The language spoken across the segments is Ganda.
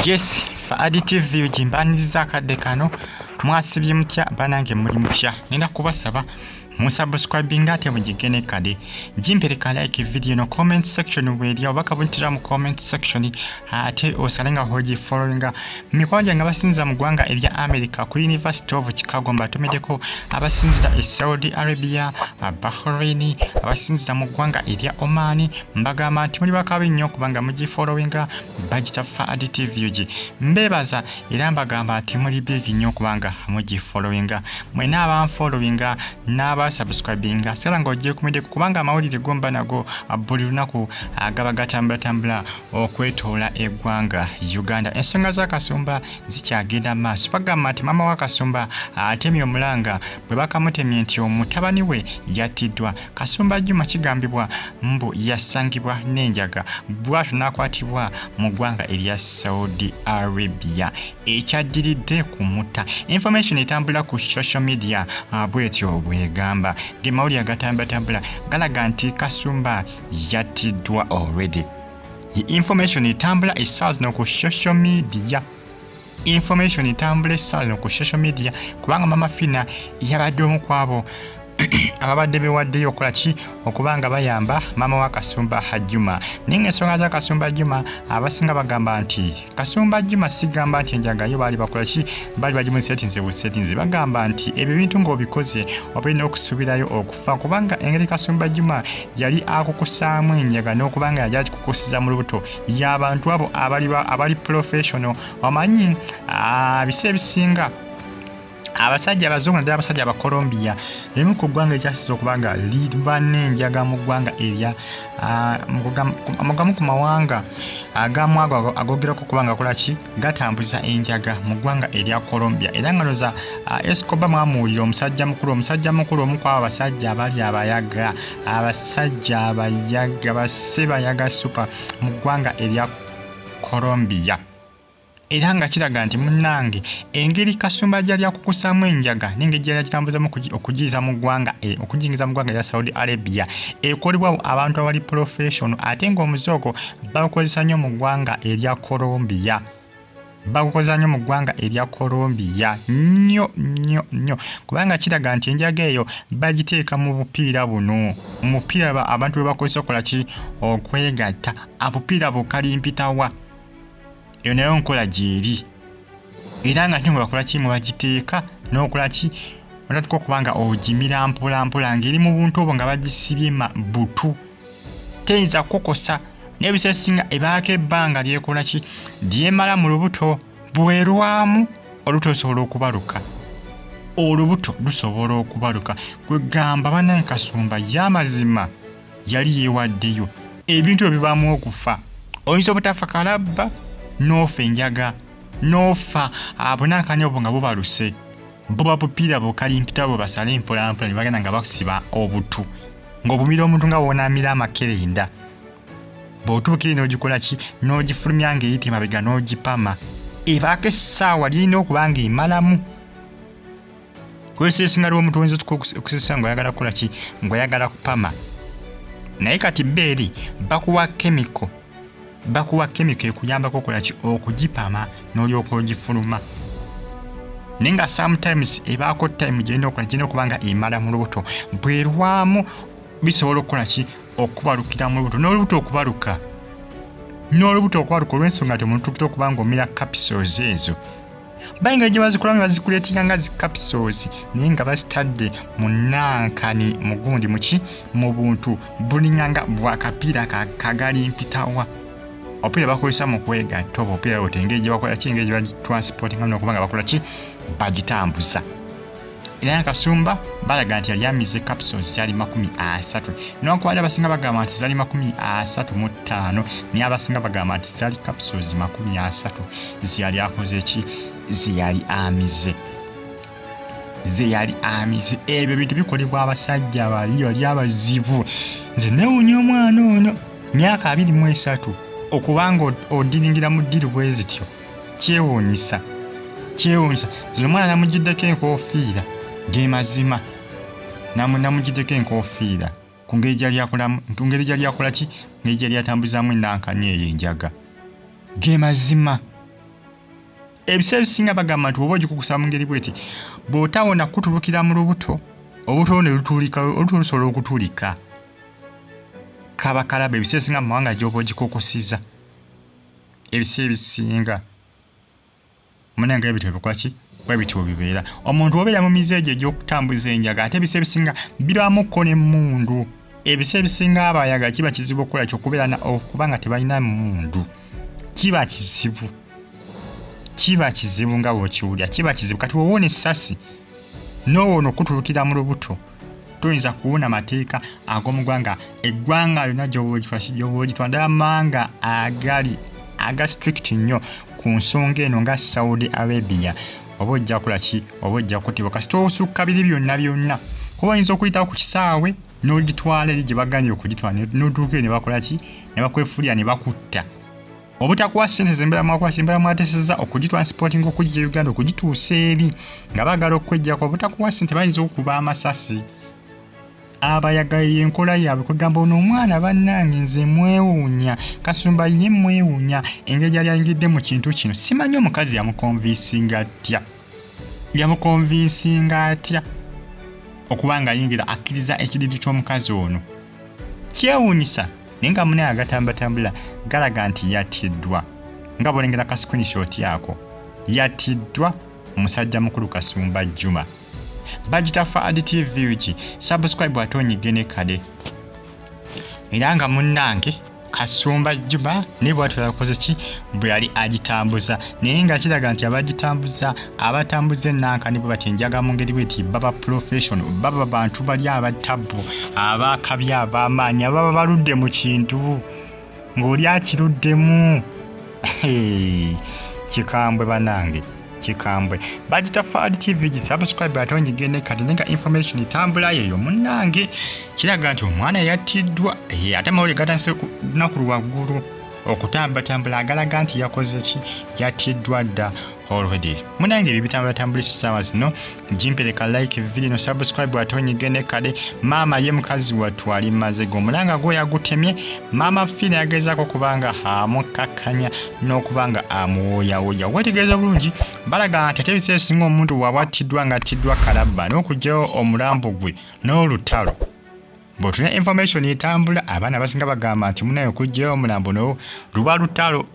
yes faadi tv ugimbaniriza akadde kano mwasibye mutya banange muli mutya nina kubasaba musubscribinga ate mugigge ne kade gimpereka like video no comment section bweri oba kabuntira mu comment section ate osale nga hogi followinga mikwano gyange abasinza mu ggwanga erya america ku university of chicago mbatumideko abasinzira e saudi arabia bahrain abasinzira mu ggwanga erya omani mbagamba nti muli bakabi nnyo kubanga mugifollowinga bagitaffa adtv ug mbebaza era mbagamba ati muli big nnyo kubanga mugifollowinga mwena abanfollowinga n'abasubscribinga sala nga ogyekumiddeko kubanga amawulire gomba nago buli lunaku agaba gatambulatambula okwetoola eggwanga uganda ensonga z'akasumba zikyagenda mu maaso bagamba nti maama w'akasumba atemye omulanga bwe bakamutemye nti omutabani we yattiddwa Kasumba Juma kigambibwa mbu yasangibwa n'enjaga bwatyo n'akwatibwa mu ggwanga erya Saudi Arabia ekyaddiridde ku mutta. Information etambula ku social media ah, bwetyo bwegamba ge mawulire agatambulatambula galaga nti Kasumba yattiddwa already. Information etambula essaawa zino ku social media. information etambula essala no ku social media kubanga mama fina yabadde omu kwabo ababadde bewaddeyo okola ki okuba nga bayamba maama wa kasumba hajjuma naye ngaensonga za kasumba hajjuma abasinga bagamba nti kasumba hajjuma sigamba nti enjagayo baali bakola ki baali bagimu setinze bu setinze bagamba nti ebyo bintu ng'obikoze obalina okusuubirayo okufa kubanga engeri kasumba hajjuma yali akukusaamu enjaga n'okubanga yali akikukusiza mu lubuto y'abantu abo abali professional omanyi ah, bisi ebisinga abasajja abazungu naddala abasajja abacolombia emu ku ggwanga ekyasiza okuba nga liba n'enjaga mu ggwanga erya ah, mugamu ku mawanga agamu ago agogerako okuba nga kolaki gatambuza enjaga mu ggwanga erya colombia era nga noza ah, escoba mwamuwulira omusajja mukulu omusajja mukulu omu kwabo abasajja abali abayaga abasajja abayaga basse bayaga supa mu ggwanga erya colombia era nga kiraga nti munnange engeri kasumba gyali akukusaamu enjaga nengeri gyali akitambuzamu okugiyiza mu ggwanga eh, okugiyingiza mu ggwanga erya saudi arabia ekolebwawo abantu abali professional ate ngaomuzoogo bawukozesa nnyo mu ggwanga erya colombia bagukozanyo mu ggwanga erya colombia nnyo nnyo nnyo kubanga kiraga nti enjaga eyo bagiteeka mu bupiira buno omupiira abantu bwe bakozesa okola ki okwegatta abupiira bukalimpitawa eyo nayo nkola gyeri era nga nti mwe bakola ki mwe bagiteeka n'okola ki olatuka okubanga ogimira mpolampola ng'eri mu buntu obwo nga bagisibye butu teyinza kukukosa naye ebiseera esinga ebaako ebbanga lyekola ki lyemala mu lubuto bwerwamu olubuto lusobola okubaluka olubuto lusobola okubaluka kwegamba banaye kasumba yamazima yali yewaddeyo ebintu ebyo bibamu okufa oyinza obutafa kalabba noofa enjaga noofa abunankanyi obwo nga bubaluse bo babupiira bukalimpita bwe basale mpolampola ne bagenda nga bakusiba obutu ng'obumira omuntu nga wonaamira amakerenda bw'otuukire n'ogikola ki n'ogifulumya ng'eyita emabega n'ogipama ebaako essaawa lirina okuba ng'emalamu kozesa esinga lw'omuntu oyinza okusesa ng'oyagala kukola ki ng'oyagala kupama naye kati beeri bakuwa kemiko bakuwa kemiko ekuyambako okolaki okugipama n'olyoka ogifuluma naye nga sometimes ebaako time gyerina okola gyerina okuba nga emala mu lubuto bwerwamu bisobola okukola ki okubalukira mu lubuto n'olubuto okubaluka n'olubuto okubaluka olw'ensonga nti omuntu tukira okuba nga omira capisols ezo bayingira gye bazikola ne bazikuleetera nga zi capsules naye nga bazitadde mu nankani mugundi muki mu buntu bulinganga bwakapiira kagali mpitawa opiira bakozesa mu kwegatta oba opiira ote engeri gye bakola ki engeri gye bagitransportinga nokuba nga bakola ki bagitambuza era na kasumba balaga nti yali amize capsules zali makumi asatu newankubadde abasinga bagamba nti zali makumi asatu mu ttaano naye abasinga bagamba nti zali capsules makumi asatu zeyali akoze ki zeyali amize zeyali amize ebyo bintu bikolebwa abasajja bali bali abazibu nze newunya omwana ono myaka abiri mu esatu okubanga odiringira mu ddiru bwe zityo kyewuunyisa kyewuunyisa zino omwana namugiddeko enkofiira ge mazima namugiddeko enkofiira ku ngeri gyali akola ki ngeri gyali atambuzaamu enankanya eyo enjaga ge mazima ebiseera ebisinga bagamba nti oba ogikukusa mu ngeri bweti bw'otawona kutulukira mu lubuto obuto ne lutulika oluto lusobola okutulika kaba kalaba ebiseera ebisinga mu mawanga gy'oba ogikukusiza ebisi ebisinga mune nga ebitwe bikwaki bwebityo bibeera omuntu obeera mu mize egyo egyokutambuza enjaga ate ebisa ebisinga birwamukko nemundu ebisa ebisinga abayaga kiba kizibu okukola kyokubeera okuba nga tebalina mundu kiba kizibu kiba kizibu nga bwekiwulira kiba kizibu kati wowoona essasi nowoona okutulukira mu lubuto toyinza kuwona mateeka ag'omugwanga eggwanga lyonna gyobogitwa ddala mawanga agali aga strict nnyo ku nsonga eno nga saudi arabia oba ojja kola ki oba ojja kutibwa kasita osukka biri byonna byonna kuba oyinza okuyitawo ku kisaawe n'ogitwala eri gye baganye okugitwala n'otuuka eyo ne bakola ki ne bakwefulira ne bakutta obutakuwa ssente zembera mwakuwa kyembera mwateseza okugitransportinga okugija uganda okugituusa eri nga bagala okwejjako obutakuwa ssente bayinza okuba amasasi abayagaye enkola yaabwe kwegamba ono omwana bannange nze mwewuunya kasumba ye mwewuunya engeri yali ayingidde mu kintu kino simanyi omukazi yamukonvinsinga atya yamukonvinsinga atya okuba ng'ayingira akkiriza ekidiidi ky'omukazi ono kyewuunyisa naye nga mune agatambatambula galaga nti yattiddwa nga bwolengera ka screenshot ako yattiddwa musajja mukulu kasumba juma bagita faad tv ki subscribe ate onyige ne kade era nga munnange kasumba juma naye bwatyo yakoze ki bwe yali agitambuza naye nga kiraga nti abagitambuza abatambuza enanka nibo bati enjaga mu ngeri bweti baba profession baba bantu bali abatabbu abakabi abamaanyi ababa baludde mu kintu ng'oli akiruddemu kikambwe banange kikambwe bagita fad tv gisubscribe ate ongigende kati nenga information etambula yeyo munange kiraga nti omwana yattiddwa eh, ate mawulire gatandise lunaku lwaggulu okutambatambula agalaga nti yakoze ki yattiddwa dda already munange ebyo bitambulatambula essaawa zino jimpeleka like video subscribe watonyige ne kade maama ye mukazi wattu ali maze go mulanga gwo yagutemye maama fina yagezako kubanga amukkakkanya n'okubanga amuwooyawooya wetegeeza bulungi balaga nti ate ebiseera ebisinga omuntu bwaba attiddwa nga attiddwa kalabba n'okugyawo omulambo gwe n'olutalo bwotulina information etambula abaana abasinga bagamba nti munayo okugyawo omulambo no luba lutalo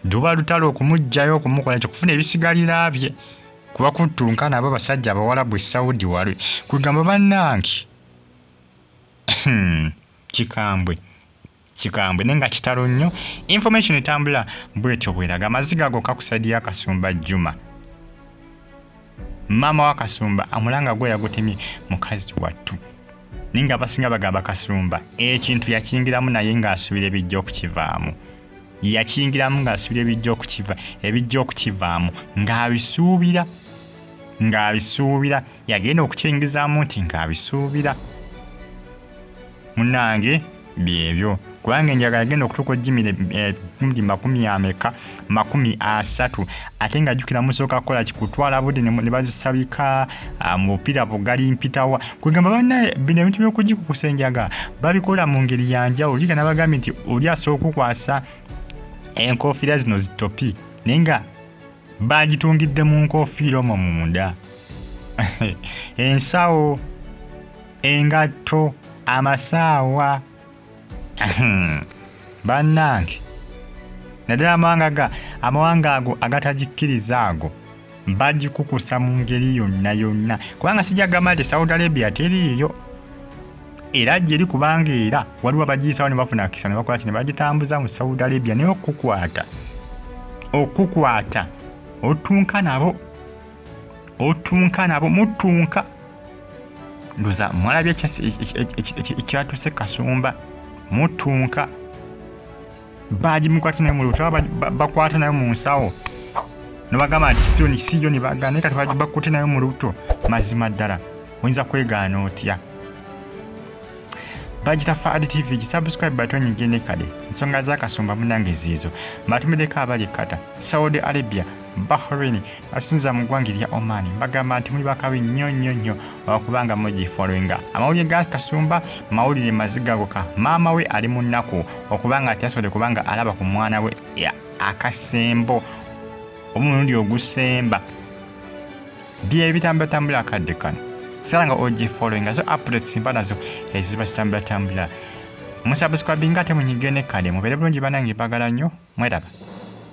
luba lutalo okumugjayo okumukola nti okufuna ebisigalira bye kuba kuttunka nabo basajja abawalabu esaudi wali kwegamba bannange hmm, kikambwe kikambwe naye nga kitalo nnyo information etambula bwetyo bweraga amaziga ago kakusaidi yakasumba juma maama wakasumba amulanga gwe yagutemye mukazi wattu naye nga abasinga bagamba kasumba ekintu yakingiramu naye ng'asubira ebijja okukivaamu yakiyingiramu ng'asuubira ebijja okukiva ebijja okukivaamu ng'abisuubira ng'abisuubira yagenda okukyingizaamu nti ng'abisuubira munange byebyo kubanga enjaga yagenda okutuuka ojimire eh, mudi makumi ameka makumi asatu ate nga jukira musooka kukola kikutwala budde ne bazisabika Ah, mu bupiira bugali mpitawa kwegamba banaye bino ebintu byokugikukusa enjaga babikola mu ngeri yanjawulo liga nabagambye nti oli asobola okukwasa enkofiira zino zitopi naye nga bagitungidde mu nkofiira omwo munda ensawo engatto amasaawa bannange naddala amawanga ga amawanga ago agatagikkiriza ago bagikukusa mu ngeri yonna yonna kubanga sijja gamba nti saudi arabia teriiyo era gyeri kubanga era waliwo abagiyisawo ne bafuna kisa ne bakola kino bagitambuza mu saudi arabia naye okukukwata okukukwata otunka nabo otunka nabo mutunka ndoza mwalabye ekyatuse kasumba mutunka bagimukwata naye mulubuto bakwata naye mu nsawo nobagamba nti sioni siyo nibagana naye kati bakutte naye mu lubuto mazima ddala oyinza kwegaana otya bagita fad tv gisubscribe batonyi gende kale ensonga zakasumba munange ziizo mbatumideko abali kata saudi arabia bahrain asinza mu ggwanga erya Oman bagamba nti muli bakabi nnyo nnyo nnyo olwokubanga mugifollowinga amawulire ga kasumba mawulire maziga goka maama we ali mu nnaku okubanga ati yasobodde kubanga alaba ku mwana we akasembo omulundi ogusemba bye bitambulatambula akadde kano sala nga ogifollowinga zo updates mba nazo eziba zitambulatambula musabuskwabinga ate munyigire ne kade mubeere bulungi banange bagala nnyo mweraba